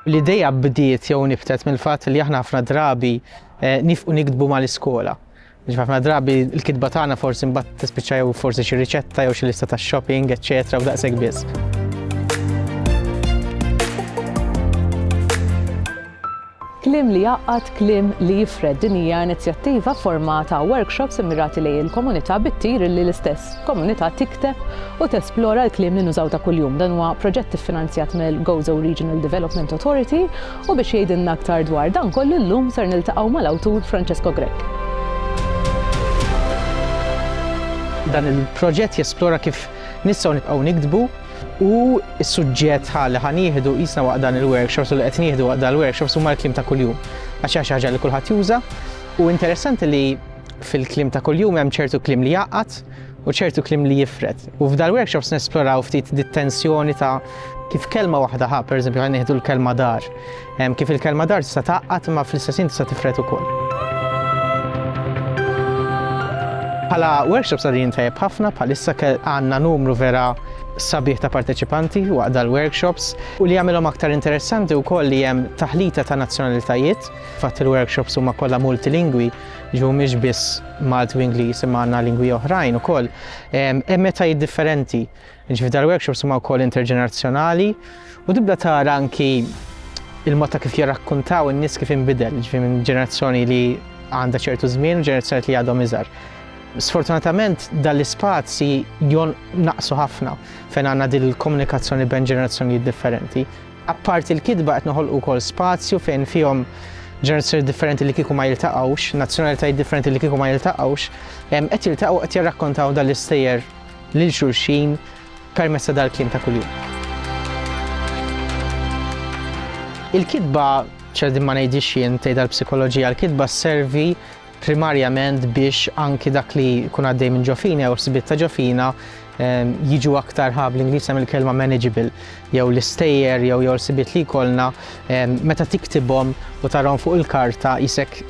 L-idea bdiet jew niftet mill-fatt li aħna ħafna drabi eh, nifqu nikdbu mal-iskola. Ġif ħafna drabi l-kitba tagħna forsi mbagħad tispiċċa jew forsi xi riċetta jew xi lista ta' shopping, eċċetera, u daqshekk biss. Kliem li jgħaqqad, kliem li jifred, din hija inizjattiva f'forma ta' workshops immirati lejn il-komunità bit-tir illi l-istess komunità tikteb u tesplora l-kliem li nużaw ta' kuljum. Dan huwa proġett iffinanzjat mill-Gozo Regional Development Authority u biex jgħidilna aktar dwar dan kollu llum ser niltaqgħu mal-awtur Francesco Grech. Dan il-proġett jesplora kif nistgħu nibqgħu niktbu. U s-suġġett ħa li ħa nieħdu qisna waqt dan il-workshops u li qed nieħdu waqt dan il-workshops huma l-kliem ta' kuljum. Għax hija xi ħaġa li kulħadd juża u interessanti li fil-kliem ta' kuljum hemm ċertu kliem li jgħaqqad u ċertu kliem li jifred. U f'dal-workshops nesploraw ftit dit-tensjoni ta' kif kelma waħda ħa, pereżempju ħa nieħdu l-kelma dar. Hemm kif il-kelma dar tista' tgħaqqad imma fl-istess ħin tista' tifred ukoll. Bħala workshops għadin tajjeb ħafna bħalissa għandna numru vera sabiħ ta' parteċipanti waqt dal-workshops u li jagħmilhom aktar interessanti wkoll li hemm taħlita ta' nazzjonalitajiet fatt il-workshops huma kollha multilingwi ġu mhix biss Malti u Ingliż imma għandna lingwi oħrajn ukoll hemm meta differenti Jiġifieri dal-workshops huma wkoll interġenerazzjonali u tibda tara anki il-mod ta' kif jirrakkuntaw in-nies kif inbidel, jiġifieri minn ġenerazzjoni li għandha ċertu żmien u ġenerazzjoni li għadhom iżgħar. Sfortunatament dan l-ispazji jon naqsu ħafna fejn għandna din il-komunikazzjoni bejn ġenerazzjonijiet differenti. Apparti l-kitba qed noħolqu wkoll spazju fejn fihom ġenerazzjoni differenti li kieku ma jiltaqgħux, nazzjonalitajiet differenti li kieku ma jiltaqgħux, qed jiltaqgħu qed jirrakkontaw dan l-istejjer lil xulxin permezz ta' dal-kliem ta' kuljum. Il-kitba, x'qegħdin ma ngħidhiex jien tgħidha l-psikoloġija, l-kitba sservi primarjament biex anki dak li jkun għaddej minn ġofina jew sbiet ta' ġofina ehm, jiġu aktar ħab l-Ingliż hemm il-kelma manageable jew l-istejjer jew jew l-sibiet li jkollna ehm, meta tiktibhom u tarhom fuq il-karta jisek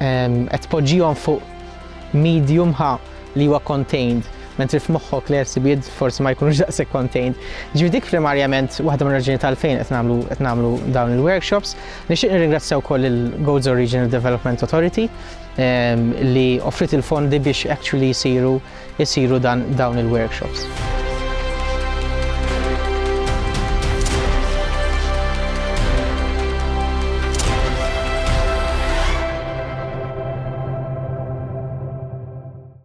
ehm, qed tpoġġihom fuq medium ħa li huwa contained, mentri f'moħħok l-ersibijiet forsi ma jkunux daqshekk contained. Ġifi dik primarjament waħda minn raġuni tal-fejn qed nagħmlu qed nagħmlu dawn il-workshops. Nixtieq nirringrazzja wkoll il-Gozo Regional Development Authority ehm, li offrit il-fondi biex actually jsiru jsiru dan dawn il-workshops.